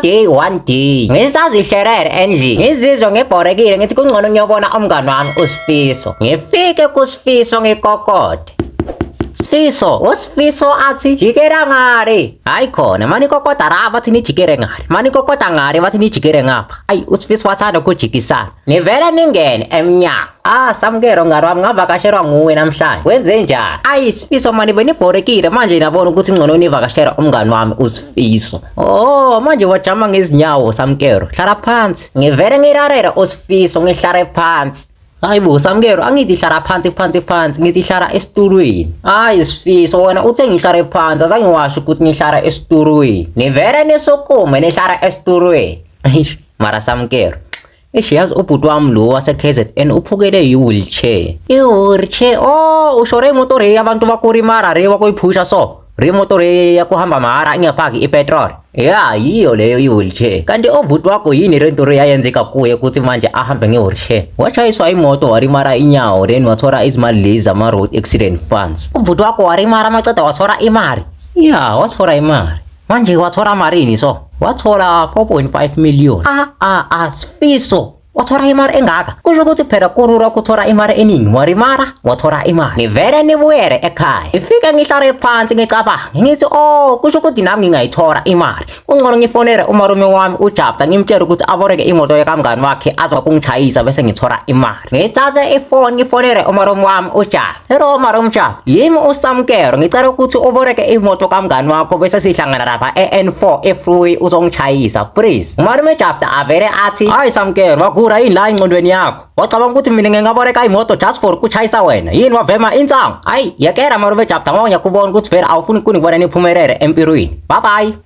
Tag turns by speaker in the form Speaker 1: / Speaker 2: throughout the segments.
Speaker 1: day one day ngisazihlerere endlini ngizizwa ngibhorekile ngithi kungcono ngiyobona umngani wami usifiso ngifike kusifiso ngikokode Sifiso, uSifiso athi jikera ngale. Hayi khona, manikokota la bathi nijikere ngale. Manikokota ngale bathi nijikere ngapha. Ayi uSifiso wathanda ukujikisana. Nivele ningene emnyango. Ah, samukelo ngalo wami ngavakashelwa nguwe namhlanje. Wenze njani? Ayi Sifiso mani benibhorekile manje nabona ukuthi ngcono nivakashela umngani wami uSifiso. Oh, manje wajama ngezinyawo samukelo. Hlala phansi. Ngivele ngirarela uSifiso ngihlale phansi. Hayi bo Samkelo angithi hlala phansi phansi phansi ngithi hlala esitulweni. Hayi sifiso wena uthe ngihlale phansi azange washo ukuthi ngihlala esitulweni. Nivele nisukume nihlala esitulweni. Eish mara Samkelo. Eish yazi ubhuti wami lo wase KZN uphukele yi wheelchair. I wheelchair oh ushore imoto re abantu bakurimara re wakuyiphusha so. Remotori yakuhamba mahara ingafaki ipetrol. Ya, yiyo leyo i-wheelchair. Kanti obhuti wakho yini le nto yayenzeka kuye ukuthi manje ahambe nge-wheelchair? Washayiswa imoto walimara inyawo then wathola izimali lezi zama-road accident funds. Ubhuti wakho walimara maceda wathola imali. Ya, wathola imali. Manje wathola malini so? Wathola 4.5 million. Ah, ah, ah, Sifiso. wathola imali engaka kusho ukuthi phela kulula ukuthola imali eningi walimala wathola imali ngivele nibuyele ekhaya ngifike ngihlale phansi ngicabange ngithi oh kusho ukuthi nami ngingayithola imali kungcono ngifonele umalume wami ujabta ngimtshele ukuthi aboleke imoto yakamngani wakhe azokungishayisa bese ngithola imali ngithathe ifoni ngifonele umalume wami ujabta Hello Marumcha, yimi uSamkero ngicela ukuthi uboleke imoto kamngani wakho bese sihlangana lapha e-N4 eFree uzongichayisa please. Umalume Jafta avele athi hayi Samkero wagura yini la ingcondweni yakho? Wacabanga ukuthi mina ngingaboleka imoto just for ukuchayisa wena. Yini wavema insangu? Hayi yekela Malume Jafta ngoba ngiyakubona ukuthi vele awufuni kunibona niphumelele empilweni. Bye bye.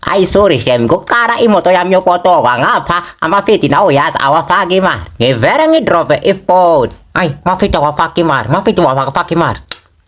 Speaker 1: Hayi sorry shem, ngokuqala imoto yami yokotokwa ngapha amafidi nawo yazi awafaki imali. Ngivele ngidrope ifoni. Hayi, mafidi awafaki imali, mafidi awafaki imali.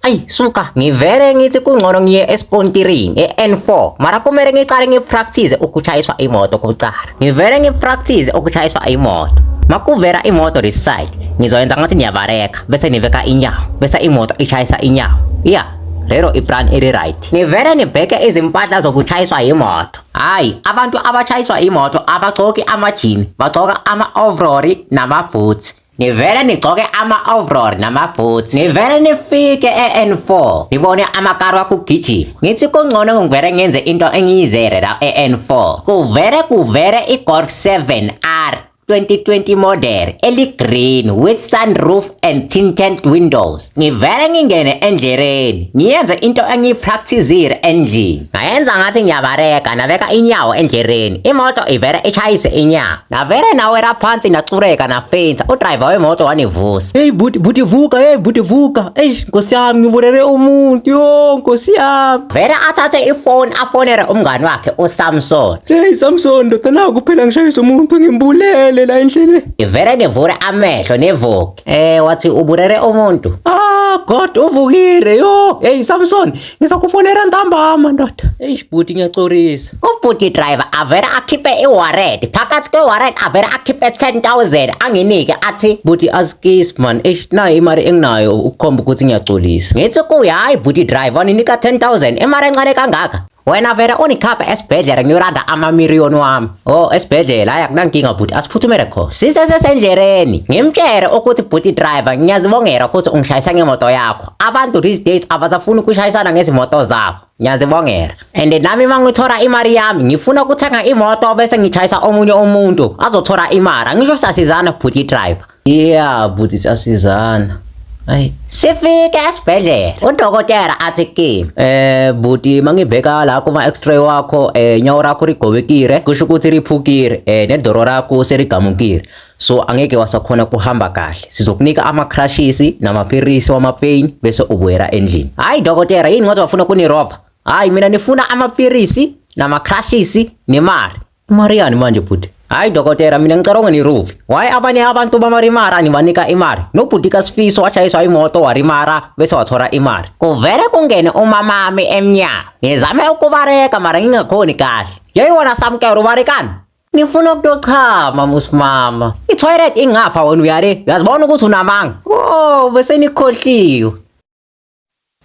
Speaker 1: Ayi suka ngivele ngithi kungcono ngiye esikontirini e-N4 mara kumele ngiqale ngipractice ukushayiswa imoto kuqala. Ngivele ngipractice ukushayiswa imoto. Makuvela imoto this side, ngizoyenza ngathi niyabareka bese niveka inyawo, bese imoto ishayisa inyawo. Yeah, lero iplan iri right. Nivele nibheke izimpahla zokushayiswa yimoto. Hayi, abantu abashayiswa imoto abagcoki amajini, bagcoka ama-overall namaboots. nivele nigcoke ama-overall namaboots nivele nifike e-n4 nibone amakari wakho ugijima ngithi kungcono ngivele ngenze into engiyizere la e-n4 kuvele kuvele i-golf 7 r 2020 model eli-green with sunroof and tinted windows ngivele ngingene endleleni ngiyenze into engiyipracticile endlini ngayenza ngathi ngiyabareka nabeka inyawo endleleni imoto ivele ishayise inyawo navele nawela phansi nacureka nafensa udriver wemoto wanivusa heyi buti buti vuka heyi buti vuka eish nkosi yami ngivulele umuntu yo nkosi yami vele athathe ifoni afonele umngani wakhe usamson heyi samson ndoda naku phela ngishayisa umuntu ngimbulele la endleleni ivele nivule amehlo nivuka Eh wathi uburere umuntu. Ah God uvukile yo. Hey Samson ngizokufonela ntambama ndoda. Eish bhuti ngiyacorisa. Ubhuti driver avele akhiphe iwarrant. Phakathi kwewarrant avele akhiphe 10000 anginike athi bhuti askiss man. Eish nayo imali enginayo ukukhomba ukuthi ngiyacolisa. Ngithi kuye hayi bhuti driver ninika 10000 imali encane kangaka. wena vele unikhaphe esibhedlela ngiyoranda amamiriyoni wami o oh, esibhedlela hhayi akunankinga bhuti asiphuthumele khona sisesesendlereni ngimtshele ukuthi bhuti driver ngiyazibongela ukuthi ungishayisa ngemoto yakho abantu these days abasafuni ukushayisana ngezimoto zabo ngiyazibongela and nami uma ngithola imali yami ngifuna ukuthenga imoto bese ngitshayisa omunye umuntu azothola imali angisho sasizana bhuti driver Yeah bhuti siyasizana. Ayi sifike esibhedlela udokotela athi kimi eh buti mangibheka la kuma x-ray wakho eh nyawo rakho rigobekile kusho ukuthi riphukile eh nedoro rakho serigamukile so angeke wasakhona kuhamba kahle sizokunika ama crashes namaphilisi wama pain bese ubuyela endlini hayi dokotela yini ngoba wafuna kunirova hayi mina nifuna amaphilisi nama crashes nemali Mariani manje bhuti. Hayi dokotela mina ngicaronga niruvi. Why abanye abantu bamarimara nibanika imali? Nobhuti kaSifiso washayiswa imoto warimara bese wathola imali. Kuvele kungene umamami emnyango. Ngizame ukubareka mara ngingakhoni kahle. Yeyona samkelo ubarekani? Ngifuna ukuyochama musimama. I-toilet ingafa wena uyale. Uyazibona ukuthi unamanga. Oh bese nikhohliwe.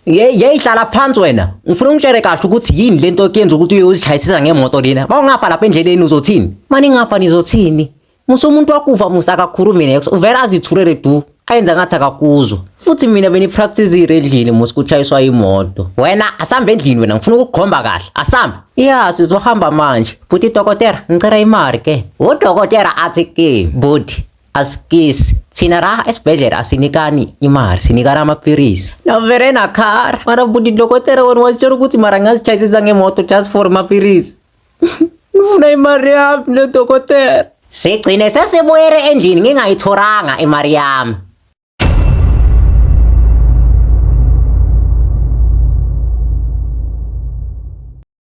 Speaker 1: Ye yeyihlala phansi wena. Ngifuna ungitshele kahle ukuthi yini lento okuyenza ukuthi uye uzichayisisa ngemoto lena. Bawungafa lapha endleleni uzothini? Mani ngafa nizothini? Musa umuntu wakufa musa akakhulumi nex. Uvela azithulele du. Ayenza ngathi akakuzwa. Futhi mina benipractice endlini musa kuchayiswa imoto. Wena asambe endlini wena ngifuna ukukukhomba kahle. Asambe. Yeah sizohamba manje. Futhi dokotela ngicela imali ke. Udokotela athi ke body Askis, sinaraha esibhedlela asinikani imali sinikana amaphilisi navere nakhara mara bhuti dokotela wena wazitshela ukuthi mara ngazitshayisisa ngemoto just for maphilisi ngifuna imali yami nodokotela sigcine sesibuyele endlini ngingayithoranga imali yami